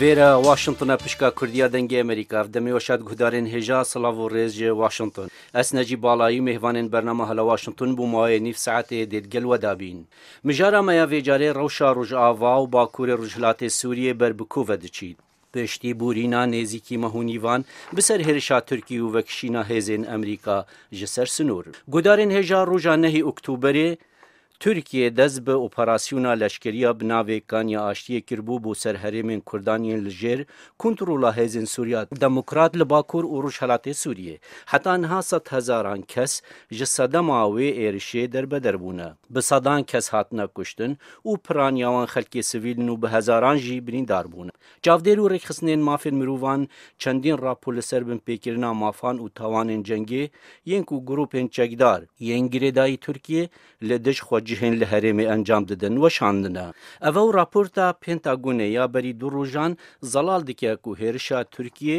Vera Washington a pişka Kurdiya Dengê Amerîka ev demê weşa di guhdarên hêja silav û rêz ji Washington. Ez Necîb Balayî mêvanên bernama Hala Washington bû mawê nîv saetê dê di gel we de bîn. Mijara me ya vê carê rewşa Rojava û Bakurê Rojhilatê Sûriyê ber bi ku ve diçît. Piştî bûrîna nêzîkî meh û nîvan bi ser hêrişa Tirkî û vekişîna hêzên Amerîka ji ser sinûr, guhdarên hêja roja nehê Oktûberê, Tirkiye dest bi operasyona leşkeriya bi navê Kanya Aştiyê kiribû bo ser herêmên Kurdan yên li jêr kontrola hêzên Sûriya Demokrat li Bakur û Rojhilatê Sûriyê. Heta niha sed hezaran kes ji sedema wê êrişê derbeder bûne. Bi sedan kes hatine kuştin û piraniya wan xelkê sivîl in û bi hezaran jî birîndar bûne. Çavdêr û rêkxistinên mafên mirovan çendîn rapor li ser binpêkirina mafan û tawanên cengê yên ku grûpên çekdar, yên girêdayî Tirkiyê li dij xwe cihên li herêmê encam didin weşandine. Ev ew raporta Pentagonê ya berî du rojan zelal dike ku hêrişa Tirkiyê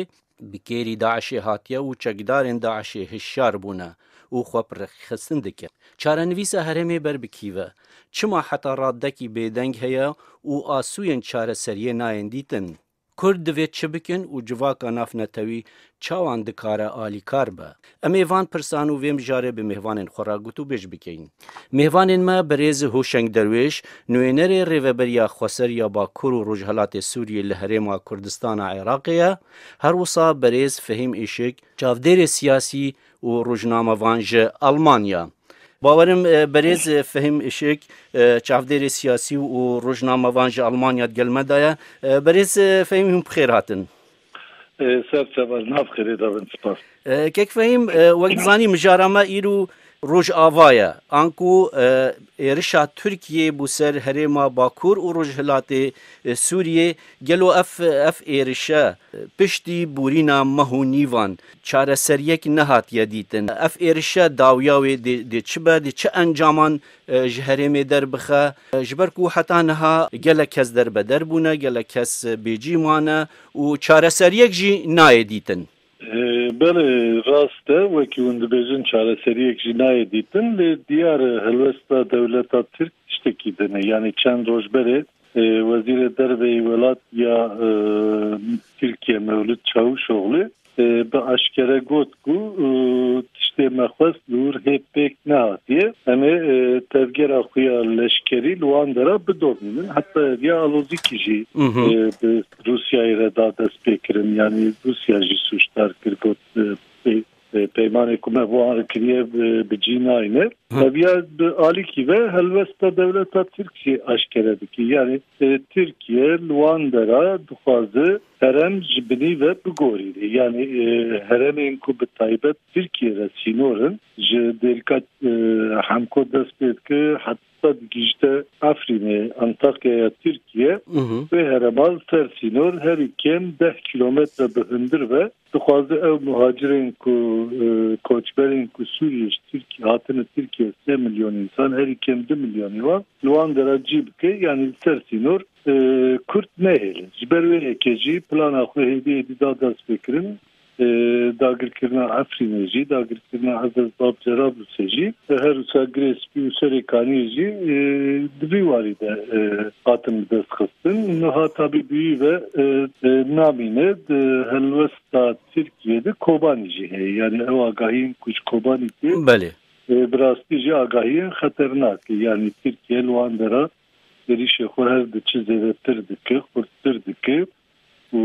bi kêrî DAIŞ'ê hatiye û çekdarên DAIŞ'ê hişyar bûne û xwe bi rêxistin dike. Çarenivîsa herêmê ber bi kî ve? Çima heta radekî bêdeng heye û asûyên çareseriyê nayên dîtin? Kurd divê çi bikin û civaka navnetewî çawan dikare alîkar be? Em ê van pirsan û vê mijarê bi mêvanên xwe re gotûbêj bikein. Mêvanên me Birêz Hûşeng Derwêş, nûênerê Rêveberiya Xweser ya Bakur û Rojhilatê Sûriyê li Herêma Kurdistan a Iraqê ye, herwisa Birêz Fehîm Îşik, çavdêrê siyasî û rojnamevan ji Elmanya. Bawerim berêz Fehîm Işik çavdêrê siyasî û rojnamevan ji Almanya di gel me de ye. Berêz Fehîm hûn bi xêr hatin. Ser çavar nav xêrê de bin spas. Kek Fehîm wek dizanî mijara me îro Rojava ye. Anku êrişa Tirkiyê bû ser herêma Bakur û Rojhilatê Sûriyê gelo ev ev êrişe piştî borîna meh û nîvan çareseriyek nehatiye dîtin. Ev êrişe dawiya wê dê çi be, dê çi encaman ji herêmê derbixe, ji ber ku heta niha gelek kes derbeder bûne, gelek kes bêcîh mane û çareseriyek jî nayê dîtin. Belê rast e, wekî hûn dibêjin çareseriyek jî nayê dîtin, lê diyar e helwesta dewleta Tirk tiştekî din e. Yanî çend roj berê Wezîrê Derve yê welatiya Tirkiye Mewlûd Çavûşoglû bi eşkere got ku tiştê me xwest li wir hê pêk nehatiye. Em ê tevgera xwe ya leşkerî li wan dera bidomînin. Heta ev ya alozîkî jî bi Rûsyayê re da destpêkirin. Yanî Rûsya jî sûcdar kir got Peymanê ku me bo an re kiriye bi cî nayne. Teviya bi alîkî ve helwesta dewleta Tirkiyê aşkere dike. Yanî Tirkiye li wan dera dixwaze herem ji binî ve bigorîne. Yanî heremên ku bi taybet Tirkiyê re sînor in ji dêrika Hemko dest pê dike Sed gihîşte Efrînê, Antakyaya Tirkiyê, wê hereman ser sînor herî kêm deh kîlometre bi hundir be, dixwaze ew muhacirên ku koçberên ku Sûriyê ji Tirkiyê hatine Tirkiyê sê milyon însan herî kêm du milyonê wan li wan de re cî bike yanî li ser sînor kurt nehêlin. Ji ber wê yekê jî plana xwe hêdî hêdî da destpêkirin Dagirkirina Efrînê jî, dagirkirina Ezez Bab Cerablûsê jî û her wisa Girê Spî û Serê Kaniyê jî di vî warî de hatin bi dest xistin. Nuha Tabîbûyî ve namîne di helwesta Tirkiyê de Kobanî jî heye. Yanî ew agahiyên ku ji Kobanî tê Belê. bi rastî jî agahiyên xeternak e. Yanî Tirkiye li wan dera êrîşê xwe her di çi zêdetir dike, xurttir dike. û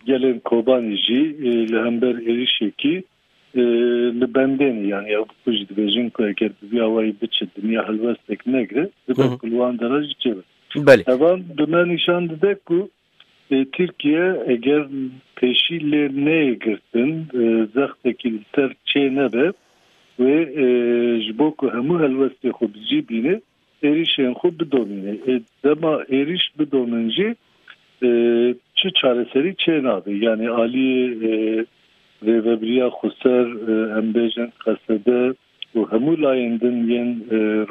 gelên Kobanî jî li hember êrîşekî li bendê ne. Yanî ew bi xwe jî dibêjin ku eger bi vî awayî biçe dinya helwestek negire dibe ku li wan deran jî çêbe. Evan bi me nîşan dide ku Tirkiye eger pêşî lê neyê girtin zextekî li ser çê nebe wê ji bo ku hemû helwestê xwe bi cî bîne êrîşên xwe bidomîne. Ê dema êrîş bidomin jî çi çareserî çênabe. Yanî aliyê Rêvebiriya Xweser, em bêjin Qesede û hemû layên din yên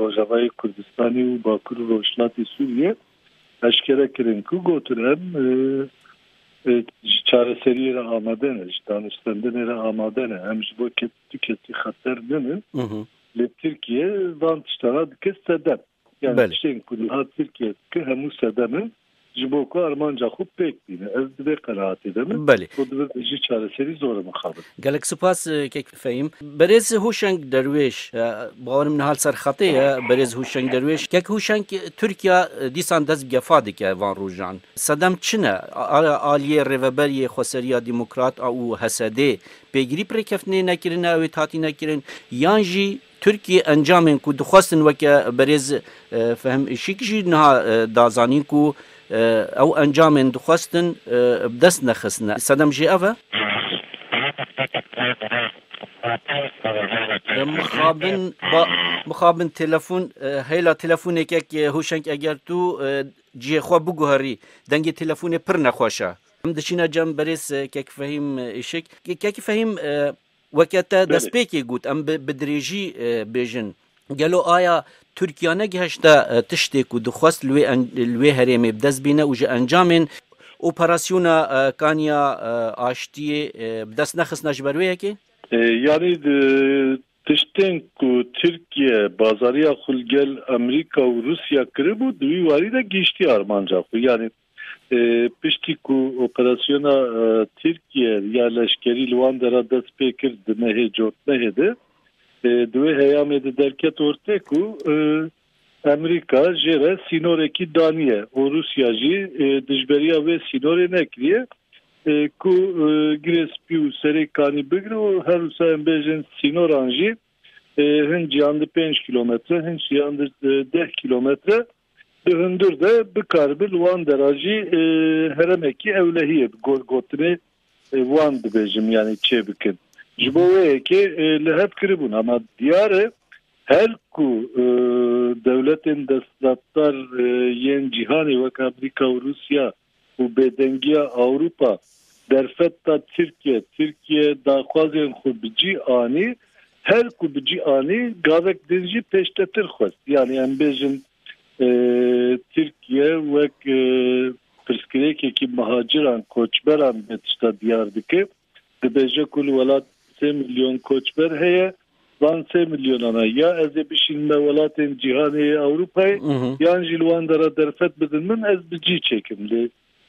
Rojavayê Kurdistanê û Bakur û Rojhilatê Sûriyê eşkere kirin ku gotin em ji çareseriyê re amade ne, ji danûstandinê re amade ne. Em ji bo tu kesî xeter ninin. Lê Tirkiye van tiştana dike sedem. Yani tiştên ku niha Tirkiye dike hemû sedem in ji bo ku armanca xwe pêk bîne. Ez di vê qenaatê de me. Got divê bi jî çareserî zor e mixabin. Gelek sipas Kek Fehîm. Berêz Hûşeng Derwêş, Bawer min niha li ser xetê ye Berêz Hûşeng Derwêş. Kek Hûşeng, Tirkiya dîsan dest bi gefa dike van rojan. Sedem çi ne? Aliyê Rêveberiyê Xweseriya Demokrat a û HSDê Pêgirî bi rêkeftinê nekirine ew ê tatîne kirin yan jî Tirkiyê encamên ku dixwestin weke berêz Fehm Işik jî niha da zanîn ku ew encamên dixwestin bi dest nexistine. Sedem jê ev e. Mixabin ba mixabin telefon heyla telefonêkek hûşeng eger tu cihê xwe biguherî dengê telefonê pir nexweş e. Em diçîne cem berêz Kek Fehîm Îşik. Kek Fehîm weke te destpêkê got em bi dirêjî bêjin. Gelo aya Tirkiye negihişte tiştê ku dixwest li wê herêmê bi dest bîne û ji encamên operasyona kaniya aştiyê bi dest nexistine ji ber wê yekê? Yanî tiştên ku Tirkiye bazariya xwe li gel Amerîka û Rûsya kiribû di wî warî de gihiştiye armanca xwe. Yanî Piştî ku operasyona Tirkiye ya leşkerî li wan dera dest pê kir di mehê cotmehê de di wê heyamê de derket ortê ku Emerîka jê re sînorekî daniye û Rûsya jî dijberiya wê sînorê nekiriye ku girê spî û serê kanî bigre û herwisa em bêjin sînoran jî hin cîyan di pênc kîlometre, hin cîyan di deh kîlometre bi hundir de bikaribi li wan dera jî heremekî ewlehiyê bi gotinê wan dibêjim yanî çê bikin. Ji bo wê yekê li hev kiribûn ama diyar e her ku dewletên desthilatdar yên cîhanê wek Amerîka û Rûsya û bêdengiya Ewropa derfet da Tirkiye. Tirkiye daxwazên xwe bi cî anî, her ku bi cî anî gavek din jî pêştetir xwest. Yanî em bêjin Tirkiye wek pirsgirêkekî mihaciran, koçberan vê tişta diyar dike. dibêje ku li welat sê milyon koçber heye, van sê milyonan e ya ez ê bişînim me welatên cîhanê yê Ewropayê yan jî li wan de re derfet bidin min ez bi cî çêkim lê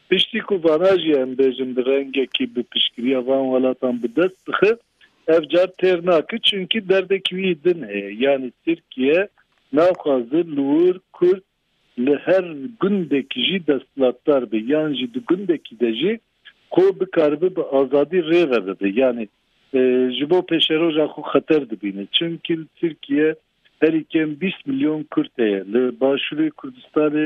piştî ku vana jî em bêjin bi rengekî bi piştgiriya van welatan bi dest bixin ev car têr nake çunkî derdekî wî din heye yanî Tirkiye naxwaze li wir Kurd li her gundekî jî desthilatdar be yan jî di gundekî de jî xwe bikaribe bi azadî rê ve bibe yanî ji bo pêşeroja xwe xeter dibîne. Çimkî li Tirkiye herî kêm bîst milyon kurd heye. Li Başûrê Kurdistanê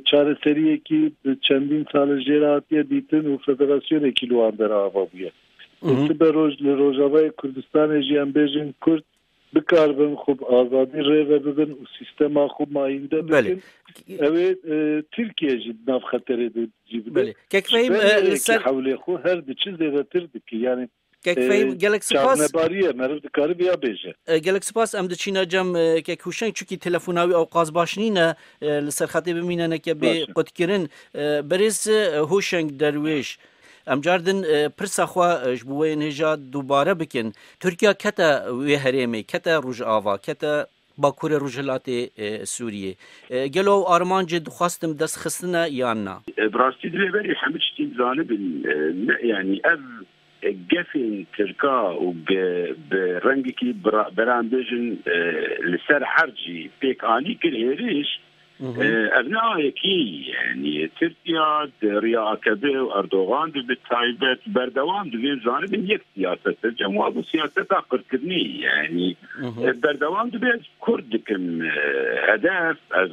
çareseriyekî bi çendîn sal e jê re hatiye dîtin û federasyonekî li wan der ava bûye. Sibe roj li Rojavayê Kurdistanê jî em bêjin kurd bikaribin xwe bi azadî rêve bibin û sîstema xwe mayînde bikin. Ew ê Tirkiye jî di nav xeterê de cî bide. Kekfehîm li ser hewlê xwe her diçi zêdetir dike. Yanî Kekfehîm gelek sipas. Çavnebarî ye meriv dikare vêya bêje. Gelek sipas em diçîne cem Kek Hûşeng çunkî telefona wî ew qas baş nîne li ser xetê bimîne neke bê qutkirin. Birêz Hûşeng Derwêş Em car din pirsa xwe ji bo wê yên hêja dubare bikin. Tirkiya kete wê herêmê, kete Rojava, kete Bakurê Rojhilatê Sûriyê. Gelo ew armancê dixwastin dest xistine yan na? Bi rastî divê berî hemû tiştî zanibin. Ne yanî ev gefên tirka û bi rengekî beran bêjin li ser erd jî pêk anî kir hêrîş Ev ne ayekî ye. Tirkiya di riya AKPê û Erdogan de bi taybet berdewam dibin zanibin yek siyaset e. Cem wabû siyaseta qirkirinê ye. Berdewam dibe ez kurd dikim hedef ez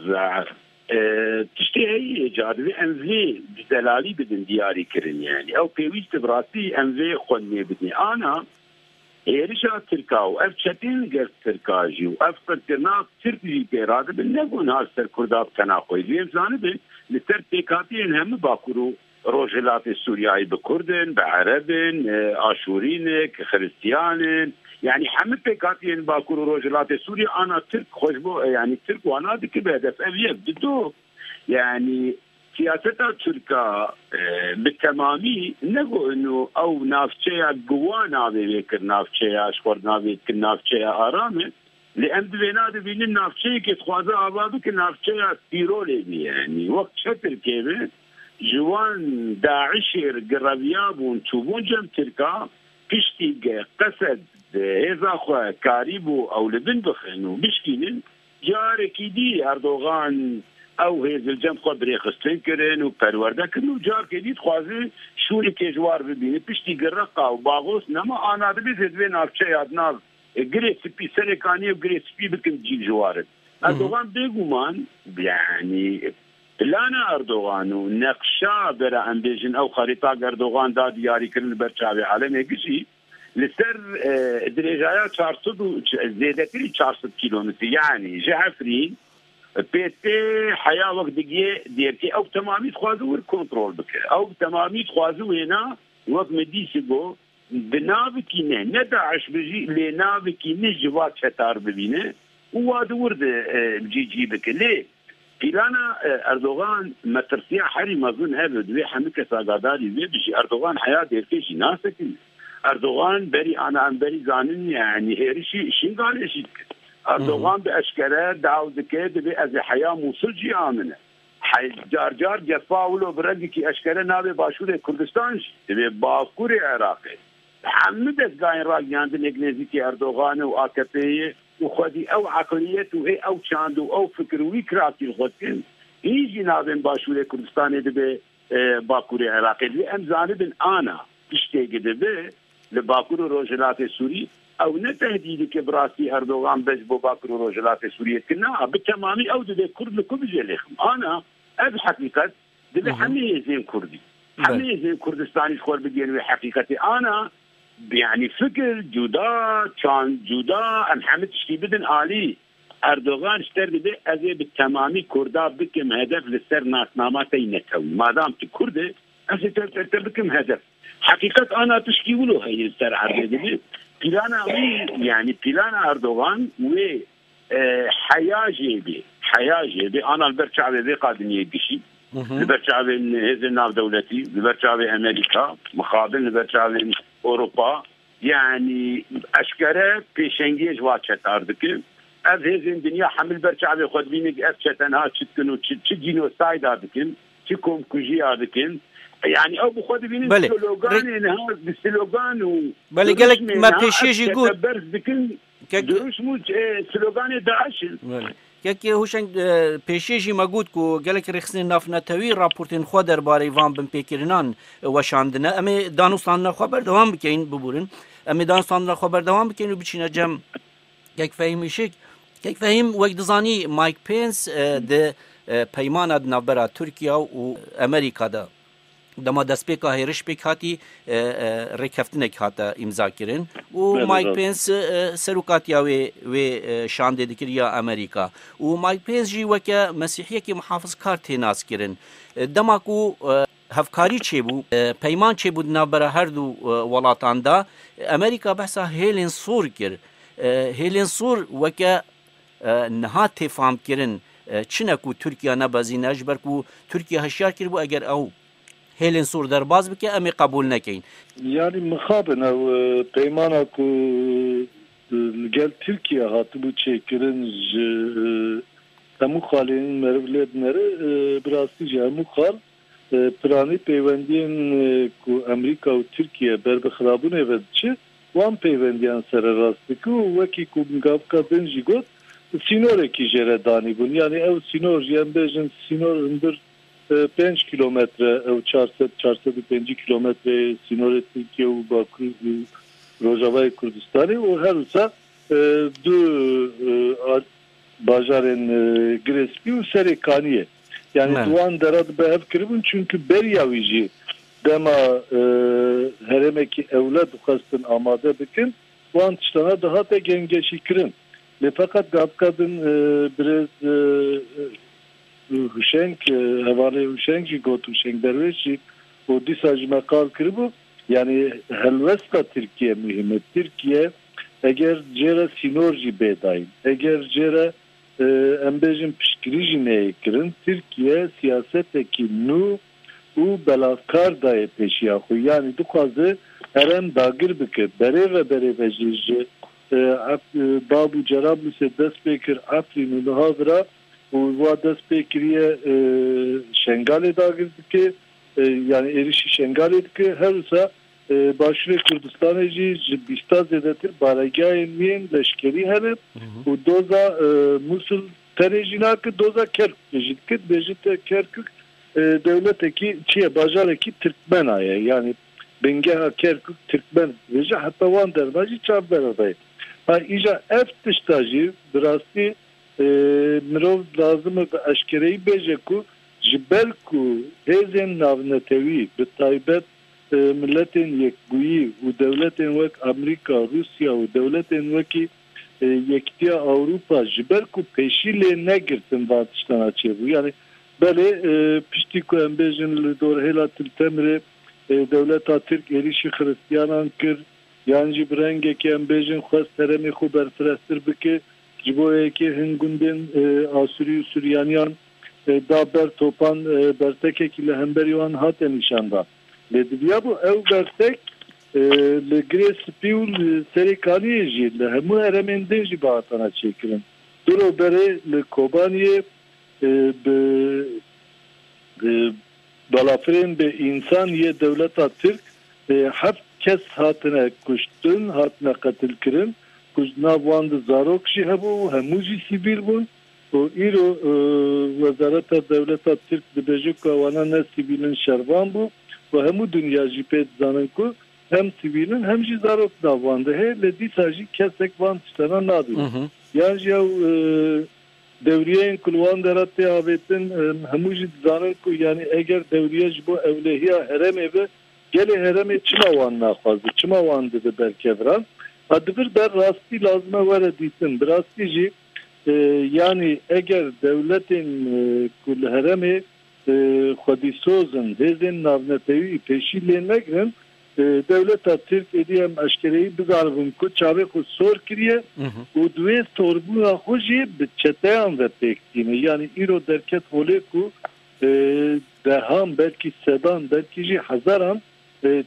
tiştê heyî ca divê em vê bi delalî bidin diyarî kirin. Ew pêwîst e bi rastî em vê xwe nêbidin. Ana Hêrişa Tirka û ev çeteyên li gel Tirka jî û ev qirkirina Tirk jî tê radibin ne gunha li ser Kurda bi tena xwe jî em zanibin li ser pêkhatiyên hemû Bakur û Rojhilatê Sûriyayê bi Kurd in, bi Ereb in, Aşûrî ne, Xiristiyan in yanî hemû pêkhatiyên Bakur û Rojhilatê Sûriyê ana Tirk xwe ji bo yanî Tirk wana dikibe hedef ev yek di du yanî Siyaseta Tirk a bi temamî ne ku ino ew navçeya giwa navê wê kir navçeya ji xwe navê dikin navçeya aram e lê em di vêna de bînin navçeyekê dixwaze ava bike navçeya tîrolê bî yanî wek çetirkê be ji wan daişê re gi reviyabûn çûbûn cem tirk a piştî qesed hêza xwe karî bû ew li bin bixin û bişkînin Carekî dî Erdogan ew hêzilcend xwe birêxistin kirin û perwerde kirin û carkê dî dixwazin şûnê kêjwar bibînin. Piştî gi Reqa û Bagos nema ana dibê zê divê navçeya di nav Girê Spî serê kaniyê û Girê Spî bikin cîl ji warin. Erdogan bêguman yanî plana Erdogan û neqşa vera em bêjin ew xerîta Erdogan da diyarî kirin li ber çavê alemê gijî. Li ser dirêjaya çar sed û zêdetirî çar sed kîlometre yanî ji Efrîn pê tê heya wek digiyê Dêrkê. Ew bi temamî dixwaze wir kontrol bike. Ew bi temamî dixwaze wêna wek me dîsî got bi navikî neh ne DAIŞ bijî lê navikî neh jî va çetar bibîne û wa di wir de cî cî bike. Lê Pîlana Erdogan metirsiya herî mezin hev e. Divê hemû kes agadarî wê bijî. Erdogan heya dêrkê jî nase ku Erdogan berî ana em berî zanînî ye yanî hêrişî Şingalê jî dike. Erdogan bi eşkere daw dike divê ez ê heya Mûsil jî amine. Car car cefa wilo bi rengekî eşkere nabê Başûrê Kurdistan jî. Divê Bakurê Iraqê bi hemû dezgahên ragiyandinê êk nêzîkî Erdoganê û AKP'ê ye. û xwedî ew eqliyet û ê ew çand û ew fikir û wî kirasî li xwe dikin, hîn jî navên Başûrê Kurdistanê dibe Bakurê Iraqê. Divê em zanibin ana tiştê ki dibe li Bakur û Rojhilatê Sûrî, ew ne tehdîdek e bi rastî Erdogan bes bo Bakur û Rojhilatê Sûriyê dikin, na bi temamî ew dibe Kurd li ku bije lê xim. Ana ev heqîqet. Divê hemî hêzên kurdî, hemî hêzên Kurdistanî ji xwe re bigihînin wê heqîqetê. Ana yanî fikir cuda, çand cuda, em hemî tiştî bidin alî. Erdogan ji te re dibê ez ê bi temamî kurda bikim hedef li ser nasnama te yî netewî. Madam tu kurd î, ez ê te bikim hedef. Heqîqet ana tiştî wilo heye li ser erdê. Dibê plana wî yanî plana Erdogan wê Heya jê bê, heya jê bê ana li ber çavê vê qadiniyê gişî, li ber çavên hêzên navdewletî, li ber çavê Amerîka, mixabin li ber çavên Ewropa, yanî eşkere pêşengiyê ji va çetar dikin. Ev hêzên dinya hemû li ber çavê xwe dibînin ku ev çetenha çi dikin û çi çi cînosayda dikin, çi komkujiya dikin. Yanî ew bi xwe dibînin Belê. sloganê niha bi slogan û Belê gelek me pêşiyê jî got. berz dikin. Durûşm û sloganê DAIŞ in. Kekê Hûşeng pêşiyê jî me got ku gelek rêxistinên navnetewî raportên xwe derbarê van binpêkirinan weşandine. Em ê danûstandina xwe berdewam bikein, bibûrin, em ê danûstandina xwe berdewam bikein û biçîne cem. Kek Fehîm Îşik, Kek Fehîm, wek dizanî Mike Pence di peymana di navbera Tirkiye û Amerîka de Dema destpêka hêriş pêk hatî rêkeftinek hate îmzakirin û Mike Pence serokatiya wê wê şandê dikiriya Amerîka û Mike Pence jî weke mesîhiyekî mihafizkar tê naskirin. Dema ku hevkarî çêbû, peyman çêbû di navbera her du welatan de, Amerîka behsa hêlên sor kir. Hêlên sor weke Niha tê famkirin çine ku Tirkiye nebezîne ji ber ku Tirkiye hişyar kiribû eger ew hêlên sor derbas bike em ê qebûl nekin. Yanî mixabin ew peymana ku li gel Tirkiye hatibû çêkirin ji hemû xalên meriv lê binêre, bi rastî ji hemû xal. Piranî peywendiyên ku Amerîka û Tirkiye ber bi xirabûnê ve diçi, wan peywendiyan sererast dike û wekî ku Mgabka Din jî got, sînorekî jê re danîbûn. Yanî ew sînor jî em bêjin sînor hundir pênc kîlometre ew çar sed, çar sed û pêncî kîlometreyê sînorê Tirkiye û Bakur û Rojavayê Kurdistanê û her wisa du Bajarên Girêspî û Serê Kaniyê yanî di wan dera dibe hev kiribûn çimkî beriya wî jî dema herêmekî ewle dixwestin amade bikin wan tiştana dihate gengeşîkirin lê feqet gavika din birêz Huşeng hevalê Huşeng jî got Huşeng Derwêş jî û dîsa ji me qal kiribû Yanî helwesta Tirkiyê muhîm e. Tirkiye eger cê re sînor jî bê dayîn, eger cê re em bêjin piştgirî jî neyê kirin, Tirkiye siyasetekî nû û belavkar dayê pêşiya xwe. Yanî dixwaze herem dagir bike. Berê ve berê ve jî ji Bab û Cerablusê dest pê kir Efrîn û niha vira û wa dest pê kiriye Şengalê dagir dike. yanî êrîşî Şengalê dike, her wisa Başûrê Kurdistanê jî ji bîsta zêdetir baregehên wî yên leşkerî hene û doza Mûsil tenê jî nake, doza Kerkûkê jî dike, dibêje te Kerkûk dewletekî çi ye, bajarekî Tirkmena ye, yanî bingeha Kerkûk Tirkmen dibêje, heta wan derma jî çavdera dayê. Ha îja ev tişta jî bi rastî mirov lazim e bi eşkereyî bêje ku, Ji ber ku hêzên navnetewî bi taybet Miletên Yekbûyî û dewletên wek Amerîka, Rûsya û dewletên wekî Yekîtiya Ewropa ji ber ku pêşî lê negirtin van tiştan a çêbû. Yanî belê piştî ku em bêjin li dorhêla Til Temirê dewleta Tirk êrîşî xiristiyanan kir yan jî bi rengekê em bêjin xwest heremê xwe berfirehtir bike ji bo yekê hin gundên Asûrî û Sûryaniyan da ber topan bertekekî li hemberî wan hate nîşandan. Lê dibiyabû ew bertek li Girê Spî û li Serêkaniyê jî li hemû heremên din jî bihatana çêkirin. Du roj berê li Kobaniyê bi balafirên bê însan yê dewleta Tirk heft kes hatine kuştin, hatine qetilkirin ku di nav wan de zarok jî hebû û hemû jî sivîl bûn. Ku îro Wezareta Dewleta Tirk dibêje ku wana ne sivîlin şervan bû û hemû dinya jî pê dizanin ku hem sivîlin hem jî zarok nav wan de heye lê dîsa jî kesek van tiştanan nabîne yan jî ew dewriyeyên ku li wan de re tê avêtin hemû jî dizanin ku yanî eger dewriye ji bo ewlehiya herêmê be gelê herêmê çima wan naxwaze çima wan dibe ber kevran a di vir de rastî lazime were dîtin bi rastî jî Yanî eger dewletên ku li heremê xwedîsoz in hêzên navnetewî pêşî lê negirin, dewleta Tirk êdî em eşkereyî bizanibin ku çavê xwe sor kiriye û di wê sorbûna xwe jî bi çeteyan ve pêk tîne. Yanî îro derket holê ku dehan belkî sedan belkî jî hezaran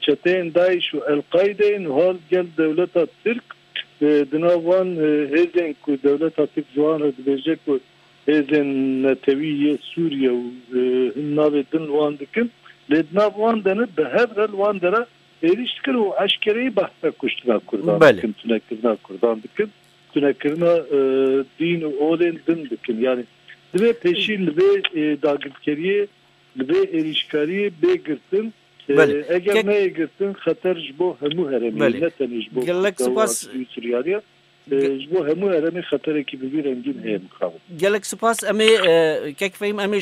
çeteyên DAIŞ û El-Qaîdeyê niha gel dewleta Tirk Di nav wan hêzên ku dewleta Tirk ziwan re dibêje ku hêzên netewî yê Sûriye û hin navê din li wan dikin lê di nav wan de ne bi hev re li wan de re êrîş dikin û eşkereyî behsa kuştina Kurdan dikin, tunekirina Kurdan dikin, tunekirina dîn û olên din dikin. Yanî divê pêşî li vê dagirkeriyê, li vê êrîşkariyê bê girtin. Eger neyê girtin xeter ji bo hemû herêmê ye ne tenê ji bo Kurda û Asirî û Suriyalî ye. Ji bo hemû herêmê xeterekî bi vî rengîn heye mixabin. Gelek sipas emê kek fehîm emê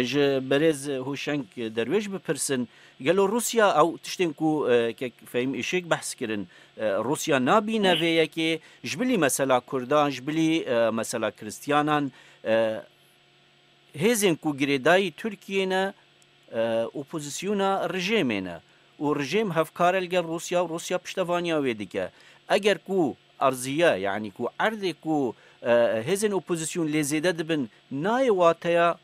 ji berêz Hoşeng Derwêş bipirsin gelo Rûsya ew tiştên ku kek fehîm îşêk behs kirin Rûsya nabîne vê yekê ji bilî mesela Kurdan ji bilî mesela Kiristyanan hêzên ku girêdayî Tirkiyê ne Opozîsyona rijêmê ne û rijêm hevkare li gel Rûsya û Rûsya piştevaniya wê dike. Eger ku erziye yanî ku erdê ku hêzên opozîsyon lê zêde dibin nayê wateya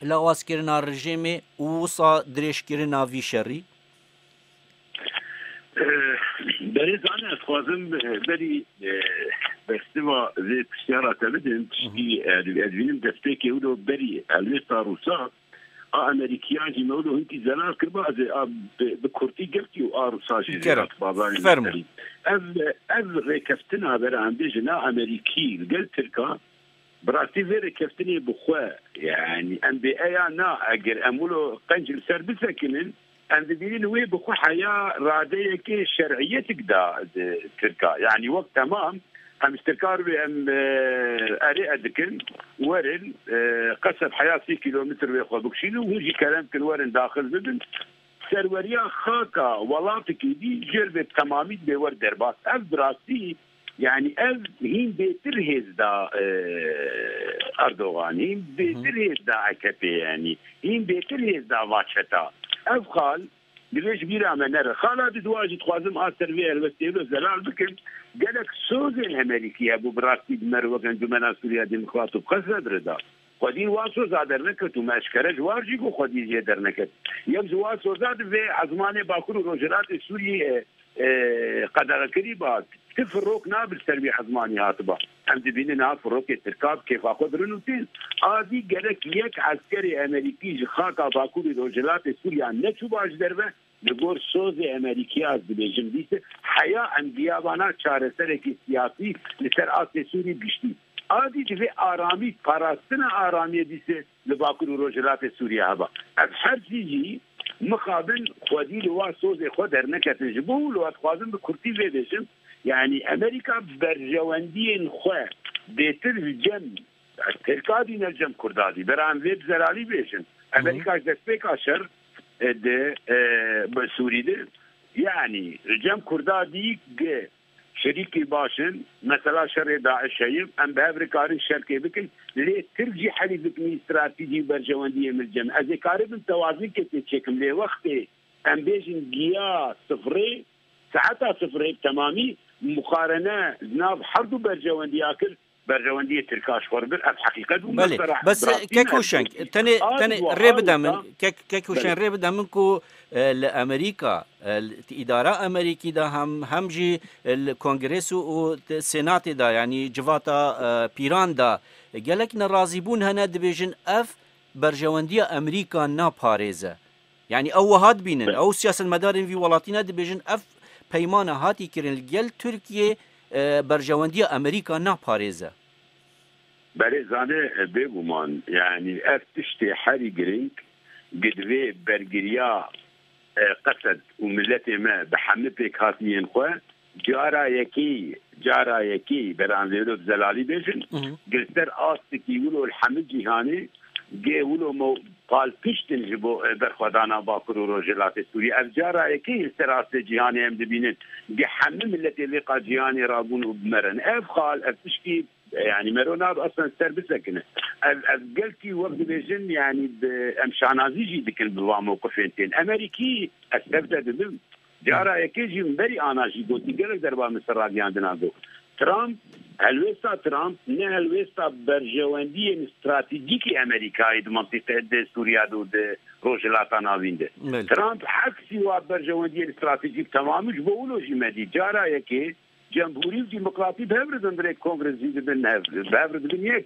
lawazkirina rijêmê û wisa dirêjkirina vî şerî? Berêzan ez dixwazim berî bersiva vê pirsyara te bidim. Piştî ez dibînim destpêkê wilo berî helwêsta Rûsan. A Amerîkiyan jî me wilo hintî zelal kir ba ez ê a bi kurtî girtî û a Rusan jî zêde hat bazayin me serî. Ev ev rêkeftina veranbêjin a Amerîkî li gel Tirkan bi rastî vê rêkeftinê bi xwe yanî em bêeya na eger em wilo qenc li ser bisekinin, Em dibînin wê bi xwe heya radeyekê şer'îyetik da tirka. Yanî wek temam em ji tirka re wê em erê e dikin werin qeseb heya sî kîlometr wê xwe bikşînin û hûn jî kerem bikin werin daxil bibin serweriya xaka welatikî dî jêr vê temamî dibê wer derbas. Ev bi rastî Yanî ev hîn bêtir hêz da Erdogan, hîn bêtir hêz da AKP'ê yanî hîn bêtir hêz da va çeta. Ev xal divê ji bîra me nere. Xala di dua jî dixwazim a ser vê helwestê ve zelal bikim. Gelek sozên Hemedîkî hebû bi rastî di mer wek Encûmena Sûriya Demokrat û bi qesd re dire da. Xwedî wa soza derneket û me eşkere ji war jî got xwedî jê derneket. Yew ji wa soza di vê ezmanê Bakur û Rojhilatê Sûriyeyê qedexe kirîba. Ti firok nabe li ser wî ezmanî hatiba. Em dibînin niha firokê tirka bi kêfa xwe birin û tên. Adî gerek yek eskerê Emerîkî ji xaka Bakur û Rojhilatê Sûriya neçûba ji derve Li gor sozê Emerîkî ez dibêjim dîtin heya em biyabana çareserekî siyasî li ser astê Sûrî giştî a dî divê aramî parastina aramiyê dîsê li Bakur û Rojhilatê Sûriyê heba. Ev her sî jî mixabin xwedî li wa sozê xwe derneketin. Ji bo wilo ez dixwazim bi kurtî vê bêjim yanî Emerîka berjewendiyên xwe bêtir ji cem Ez pêlka dî ne cem kurda dî. Vera em vê bi zerarî bêjin. Emerîka ji destpêka şer di bi Sûrî di yanî cem kurda dî gi şerîkê baş in. Mesela şerê DAIŞ heye. Em bi hev rikarin şerkê bikin. Lê Tirk jî herî dikmî stratejî û berjewendiyê min cem. Ez ê karibim tewazikê tê çêkim. Lê wextê em bêjin giya sifirê saeta sifirê bi temamî muqarene di nav herdû berjewendiya kir Berjewendiyê Tirkan ji xwe re bir ev heqîqet bû. Belê, bes kek û şeng tenê tenê rê bide min kek kek û şeng rê bide min ku li Amerîka di îdara Amerîkî de hem hem jî li Kongrês û û Sênatê de yanî civata pîran de gelek nerazîbûn hene dibêjin ev berjewendiya Amerîka naparêze. Yanî ew wiha dibînin, ew siyasetmedarên vî welatî ne dibêjin ev peymana hatî kirin li gel Tirkiyê berjewendiya Amerîka naparêze. Berê Zane, Bêguman yanî ev tiştê herî girîng gi divê bergiriya Qesed û miletê me bi heme pêkhatiyên xwe, Cara yekî, cara yekî beran lêlo bi zelalî bêjin, Girser astikî wilo li hemî cîhanê gê wilo mo pal piştin ji bo berxwedana Bakur û Rojhilatê Sûriyê. Ev cara yekî ye li ser astê cîhanê em dibînin gê hemî miletê lêqa cîhanê ra bûn û bimerin. Ev xal, ev tiştî yanî mero nabe eslan ser bisekine. Ev ev gelkî wek dibêjin yanî bi em şanazî jî dikin bi van mewqifên tên. Em herî kî? Ez tev te dibim. Cara yekê jî min berî ana jî gotî gelek derba min ser rageyandina got, Trump, helwêsta Trump ne helwêsta berjewendiyên stratejîkî Amerîkayê di mintîqe di Sûriya de û di Rojhilata Navîn de. Trump heksî wa berjewendiyên stratejîk temamî ji bo wilo jî medî. Cara yekê Cemhurî û Dîmokratî bi hev re dindrê Kongre zî dibin hev, bi hev re dibin yek.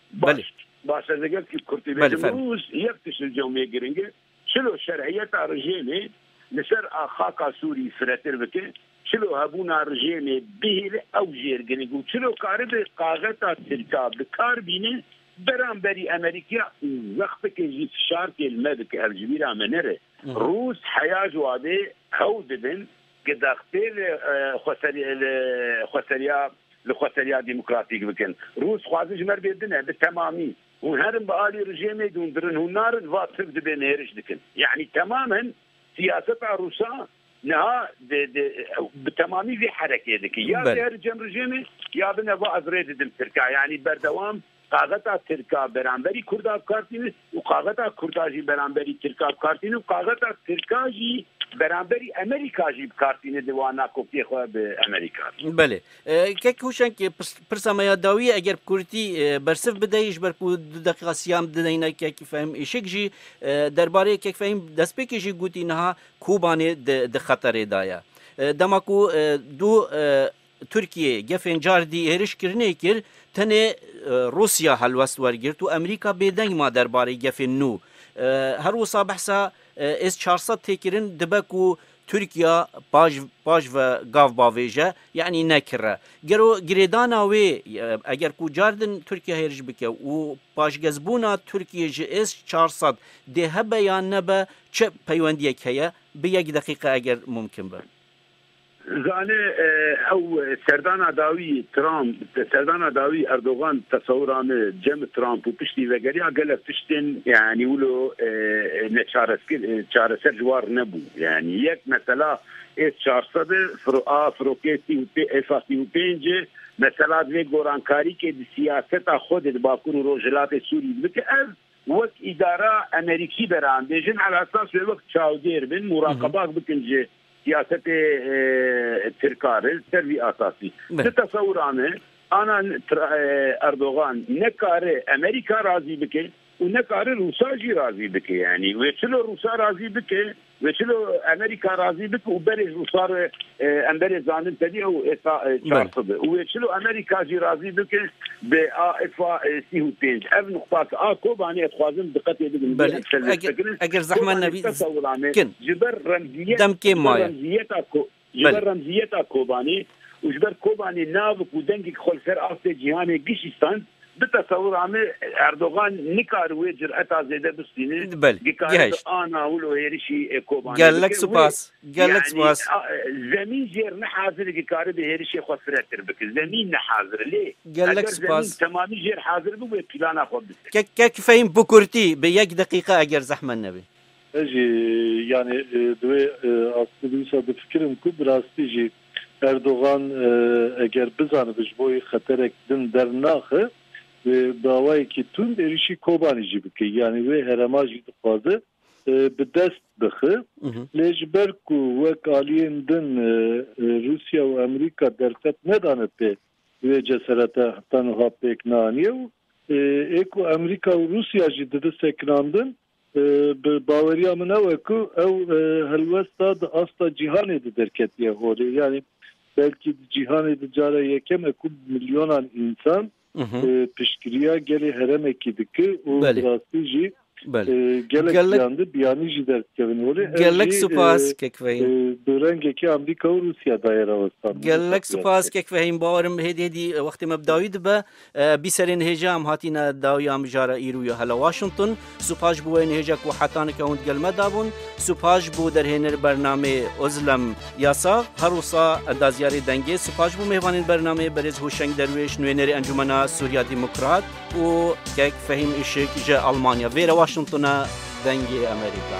Belê. Baş e lêger ki kurt dê bêjim rûz yek tişt li cewmê giring e, çilo şerhiyeta rijêmê li ser a xaka Sûrî firetir bike, çilo hebûna rijêmê bihêle ew jê ir giring û çilo karibe qaxeta tirka bi kar bîne beramberî Emerîkîya û wexteke jî fişarkê li me bike. Hevjibîra me nere. Rûz heya ji wadê hewl didin. Ke daxpê li xweseriya li xweseriya demokratîk bikin. Rûs xwazin ji me re bê din e bi temamî. Hûn herin bi alî rijêmê dûndirin. Hûn narin va tirk dibê nêriş dikin. Yanî temam hin siyaseta rûsa niha bi temamî vê herekê dikin. Ya bê herin cem rijêmê ya bine va ez rê didim tirka. Yanî berdewam Qaxeta tirka beramberî kurda bikartîn û qaxeta kurda jî beramberî tirka bikartîn û qaxeta tirka jî beramberî Emerîka jî bikartîne di wana kopîyê xwe bi Emerîka re. Belê. Kek Hûşeng pirsa me ya dawî eger bi kurdî bersiv bideyî ji ber ku du deqîqa sîyam dideyne Kek Fehîm Îşik jî derbarê Kek Fehîm destpêkê jî gotî niha Kobanê di xeterê de ye. Dema ku du Tirkiyê gefên car dî êriş kirinê kir, tenê Rûsya helwest wergirt û Amerîka bêdeng ma der barê gefên nû. Her wisa behsa S çar sed tê kirin, dibe ku Tirkiya paş paş ve gav bavêje, yanî ne kir e. Gero girêdana wê eger ku car din Tirkiya hêriş bike û paşgezbûna Tirkiyê ji S çar sed dê hebe yan nebe çi peywendiyek heye? Bi yek deqîqe eger mumkin be. Zane ew serdana dawî Trump, serdana dawî Erdogan tesewira me cem Trump û piştî vegeriya gelek tiştên yanî wilo neçareskir çareser ji war nebû. Yanî yek mesela S çar sed e firo a firokê sî û pê S a sî û pênc e mesela divê gorankarî ke di siyaseta Xwedê di Bakur û Rojhilatê Sûrî dibike ev Wek îdara Emerîkî be re an bêjin El Esas wê wek çawdêr bin muraqebak bikin ji siyasetê Tirka re li ser vî asasî. Di tesewura me ana Erdogan ne kare Emerîka razî bike û ne kare Rûsa jî razî bike. Yanî wê çilo Rûsa razî bike Wê şilo Amerîka razî bike û berê Rûsar e em berê zanin tevî ew êsa çar sed e û wê şilo Amerîka jî razî bike bi a êsa sîh û pênc. Ev nuqta ki a Kobanê ez xwazim diqetê bidim lê em şer lê dikin. Kobanê seta wilanê ji ber remziyet ji ber remziyeta Ji ber remziyeta Kobanê û ji ber Kobanê navik û dengek xwe li ser astê cîhanê gişîstand, bi tesewura min Erdogan nikar wê cureta zêde bistîne, dikare bi ana wilo hêrişî Kobanê bike wê yanî zemîn jêr nehazir e dikare bi hêrişê xwe firetir bike. Zemîn nehazir e lê eger zemîn temamî jêr hazir bibe plana xwe bise. Kek fehîm bi kurtî bi yek deqîqe eger zehmet nebe. Ez jî yanî di wê astê de wisa difikirim ku bi rastî jî Erdogan eger bizanibe ji bo wê xeterek din dernaxe wê bi awayekî tund êrîşî Kobanî jî bike yanî wê herema jî dixwaze bi dest bixe. Lê ji ber ku wek aliyên din Rûsya û Amerîka derfet nedane pê wê ceserete heta niha pêk neaniye û ê ku Amerîka û Rûsya jî dibi sekinandin Bi baweriya min ew e ku ew helwesta di asta cîhanê de derketiye holê. Yanî belkî di cîhanê de cara yekem e ku milyonan însan piştgiriya gelê heremekî dikir û bi rastî jî gelek jiyan di biyanî jî derdikevin holê. Gelek supas Kekvehîn. Bi rengekî Amrîka û Rûsya daye rawestan. Gelek supas Kekvehîn. Bawer im hêdî hêdî wextê me bi dawî dibe. Bî serê nihêja em hatîne dawiya mijara îrû ya hela Washington. Supaj bû wê nihêja ku heta nika hûn gel me dabûn. Supaj bû derhênir bernamê Ozlem Yasa, Herusa Dazyarê Dengê. Supaj bû mêvanên bernamê Berêz Hûşeng Derwêş, Nûênerê Encûmena Sûriya Demokrat û kek Fehîm Îşik ji Elmanya. Vê re Washington e dengê Amerîka.